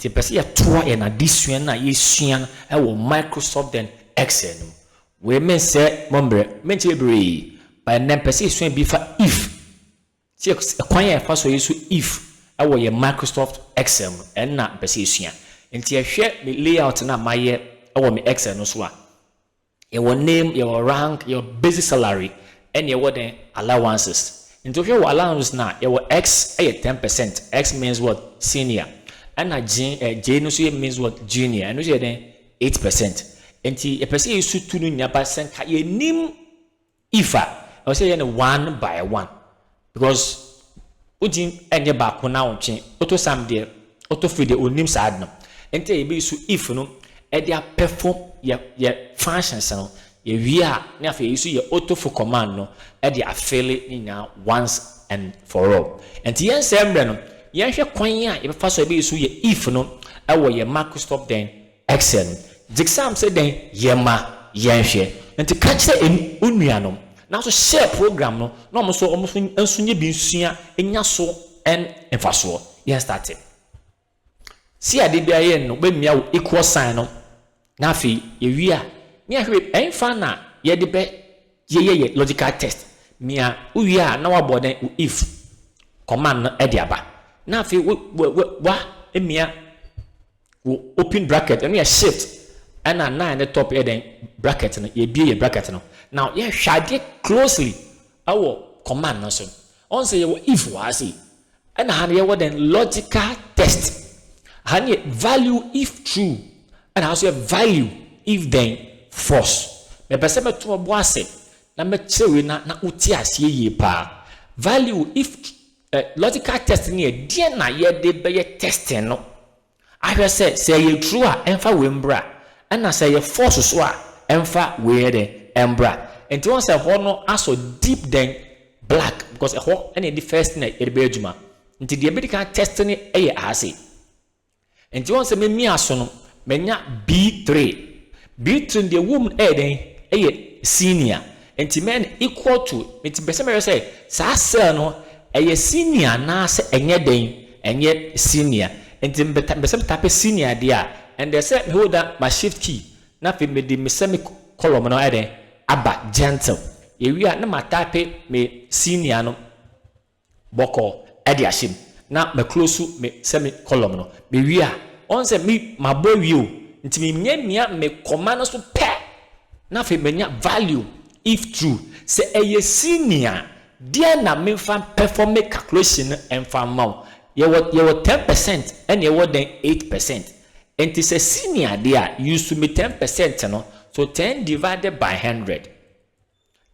Nti yɛpɛ sɛ yɛtoa yɛn adesua no a yɛsua no wɔ Microsoft then Excel no mu. Wei mensɛ mo mmerɛ, menti bebree, but ɛnnɛ mpɛ sɛ yɛsua bi fa if. Sɛ ɛkwan a yɛfa so yɛ so if wɔ yɛn Microsoft Excel mu, ɛno na mpɛ sɛ yɛsua. Nti yɛhwɛ me layout no a mayɛ wɔ me Excel no so a, Yɛwɔ name, yɛwɔ rank, yɛwɔ basic salary ɛna yɛwɔ dɛn? Allowances. Nti wohwɛ wɔ allowances no a yɛwɔ X yɛ ten percent, X means what? Senior. Ɛna Jin eh, J no nso yɛ means what? Junior. Ɛno nso yɛ dɛn? Eight percent. Nti yɛpɛ sɛ yɛsu tu no nyinaa ba sɛ nka yɛnim If a, ɛwɔ sɛ yɛyɛ no one by one because wogye ɛnyɛ baako na wotwe. Auto sum deɛ, auto fill deɛ ɔnnim saa ade no. Nti a yɛbɛyi so if no de apɛfɔm yɛ yɛ functions no. Yɛwie a ne afei yɛyi so yɛ auto fill command no de afeele ne nyinaa once and for all. Nti yɛnsɛe mmerɛ no, yɛnhwɛ kwan a yɛbɛfa so a yɛbɛyi so yɛ if no wɔ yɛ mark stop dɛn Xen. Dziksam sɛ dɛn? Yɛma yɛnhwɛ. Ntsi ka kyerɛ en wo nuanom. Naaso share program no na ɔmo so ɔmo so nso nye bi nsua nya so en mfasoɔ. Yɛn starte. Si ade biara yɛ no bɛmia wo equal sign no na afei yɛwie a ne yɛahwɛ ɛnfa na yɛde bɛ yɛyɛ yɛ logical test mia wo wie a na wabɔ dɛn wo if command no ɛde aba na afei wo wa mia Wo open bracket ɛno yɛ shift ɛna nine ne top yɛ dɛn bracket no yɛbie yɛ bracket no now yɛhwɛ adeɛ closely ɛwɔ command no so ɔn sɛ yɛwɔ if wɔ ha sei ɛna ha no yɛwɔ dɛn logical test ha no yɛ value if true ɛna ha nso yɛ value if dɛn false mepɛ sɛ mɛto ɔbo ase na mɛkyerɛ wei na na wote aseɛ yie paa value if Ɛ, logical test no yɛ deɛn na yɛde bɛyɛ testing no ahwɛ sɛ, sɛ ɛyɛ true a, ɛmfa wei mbra, ɛna sɛ ɛyɛ false so a, ɛmfa wei nyɛ dɛn, ɛmbra. Nti woahu sɛ ɛhɔ no asɔ deep than black, because ɛhɔ na yɛde first thing na yɛde bɛyɛ adwuma. Nti deɛ yɛbɛdi kan atest no yɛ aha sei. Nti woahu sɛ me mia so no manya B-three. B-three no deɛ ɛwɔ mu no ɛyɛ dɛn? Ɛyɛ senior. Nti mɛyɛ no equal to, nti mepɛ sɛ mɛhwɛ sɛ saa cell no ɛyɛ senior anaasɛ ɛnyɛ dɛn? Ɛnyɛ senior. Nti mepɛ mepɛ sɛ me tape senior deɛ a, ɛnneɛ sɛ me holder ma shift key na afei mede me semi column no ayɛ dɛn? Aba gentle. Yɛwie a na ma tape me senior no. bɔkɔɔ de ahyɛ mu na ma close me sɛ me column no me wie a ɔn sɛ me mabɔ awie o nti me nya mia me kɔma no so pɛ na afei manya value if true sɛ ɛyɛ senior a deɛn na me nfa pɛfɔ me calculation no nfa ma wo yɛwɔ yɛwɔ ten percent ɛna ɛwɔ dɛn eight percent nti sɛ senior deɛ a use me ten percent no so ten divided by hundred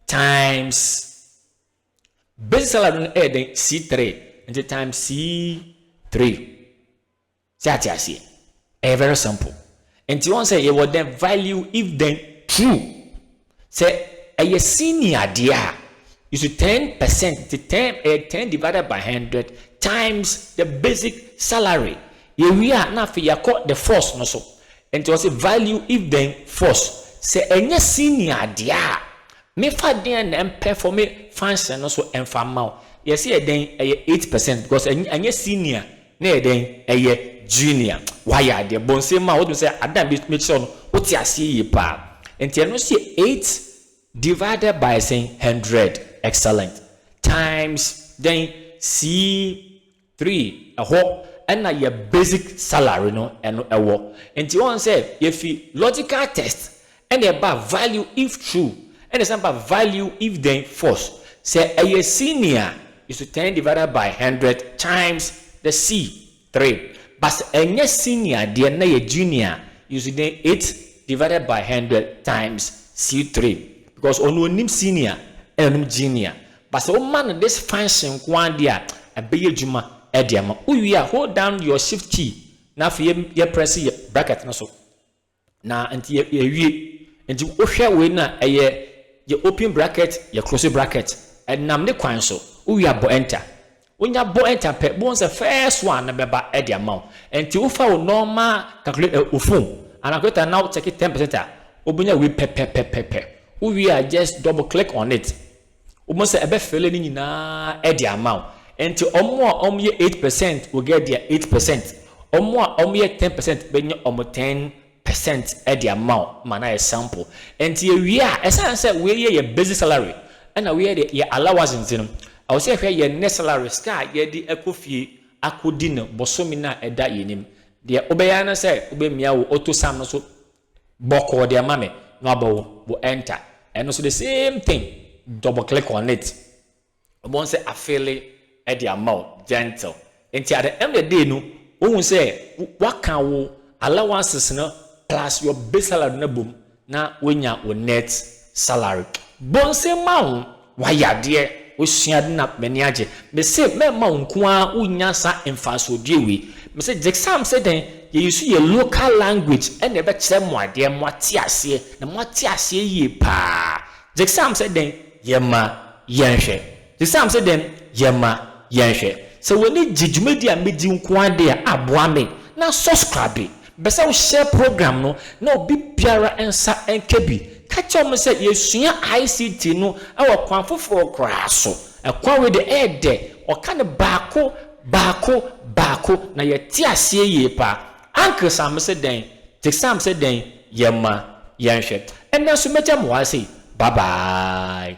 times Base salary no yɛ dɛn? C3. Nti times C3. Sɛ ate aseɛ. Ɛyɛ very simple. Nti wɔn sɛ yɛwɔ dɛn value if then true. Sɛ ɛyɛ senior adeɛ a, you should 10 percent nti 10 ɛyɛ 10 divided by 100 times the basic salary. Yɛwie a na afei yɛakɔ the force no so. Nti wɔn sɛ value if then force. Sɛ ɛnyɛ senior adeɛ a, Me fa deɛn na ɛmpɛ fɔ me function no so ɛnfa mma wo yɛse yɛ dɛn ɛyɛ eight percent because ɛny ɛnyɛ senior na ɛyɛ dɛn ɛyɛ junior wayɛ adeɛ bɔ nsem ma wotumi sɛ adeɛ na me kyerɛ wo no wote aseɛ yie paa nti ɛno nso yɛ eight divided by sɛn hundred excellent times dɛn sii Three, ɛhɔ na yɛ basic salary no ɛno ɛwɔ. Nti wɔn sɛ yɛfi logical test ɛna ɛba value if true ɛna ɛsan ba value if then false. Sɛ ɛyɛ senior is to ten divided by hundred times the C three but sɛ ɛnyɛ senior deɛ na yɛ junior is to then eight divided by hundred times C three because ɔno onim senior ɛna onim junior But sɛ woma no this function nko ara deɛ a, ɛbɛyɛ adwuma de ama wo. Wowie a, hold down your shift key na afei yɛ yɛ press yɛ bracket no so. Na nti yɛ yɛwie. Nti wohwɛ wei no a, ɛyɛ yɛ open bracket, yɛ close bracket. Ɛnam ne kwan so. Wowie a, bɔ enter. Wonya bɔ ɛnta pɛ bohu sɛ first one no bɛba de ama wo ɛnti wofa wo nɔɔma calculator ɛ wo phone anaa calculator no na wo check ten percent a wobɛnya wei pɛpɛpɛpɛpɛ wo wie a just double click on it wobɛhu sɛ ɛbɛ fele ne nyinaa de ama wo ɛnti ɔmo a ɔmo yɛ eight percent will get their eight percent ɔmo a ɔmo yɛ ten percent bɛnya ɔmo ten percent de ama wo ma no ayɛ sample. Ɛnti yɛwie a, ɛsiane sɛ wei yɛ yɛ basic salary ɛna wei yɛ deɛ yɛ allowance nti no, ɛwɔ sɛ yɛhwɛ yɛ net salary, sika a yɛde akɔ fie akɔdi no bosome no a ɛda yɛn anim. Deɛ wobɛyɛ ara ne sɛ wobɛmia wo auto sum no so bɔkɔɔ deɛ ma me na wabɔ wo enter. Ɛno nso the same thing, double click on it. wɔn sɛ afeele de ama wo, gentle. Nti at the end of the day no, wohu sɛ woaka wo allowances no plus your base salary no abom na woanya wo net salary. Bonse ma wo, woayɛ adeɛ, wosua ade na m'ani agye. Mese mɛma wo nko ara wonya saa mfasoɔdie wei. Mese gyesam sɛ dɛn, yɛ use yɛ local language na ɛbɛkyerɛ mo adeɛ, moate aseɛ, na moate aseɛ yie paa. Gyeksaam sɛ dɛn? Yɛmma yɛnhwɛ. Gyeksaam sɛ dɛn? Yɛmma yɛnhwɛ. Sɛ w'ani gye dwumadi a medi nko ara deɛ a, boa me na sɔskrabe. Mepɛ sɛ wo hyɛ program no na obi biara nsa nka bi. Ka kyerɛ wɔn sɛ yɛsua ICT no wɔ kwan foforɔ koraa so. Kwan wei deɛ ɛyɛ dɛ. Wɔka no baako, baako, baako na yɛte aseɛ yie paa. Ankesamse dɛn, Tesamse dɛn, yɛmma yɛnhwɛ. Ɛnnɛ nso mɛgya mo ara sei, bye bye.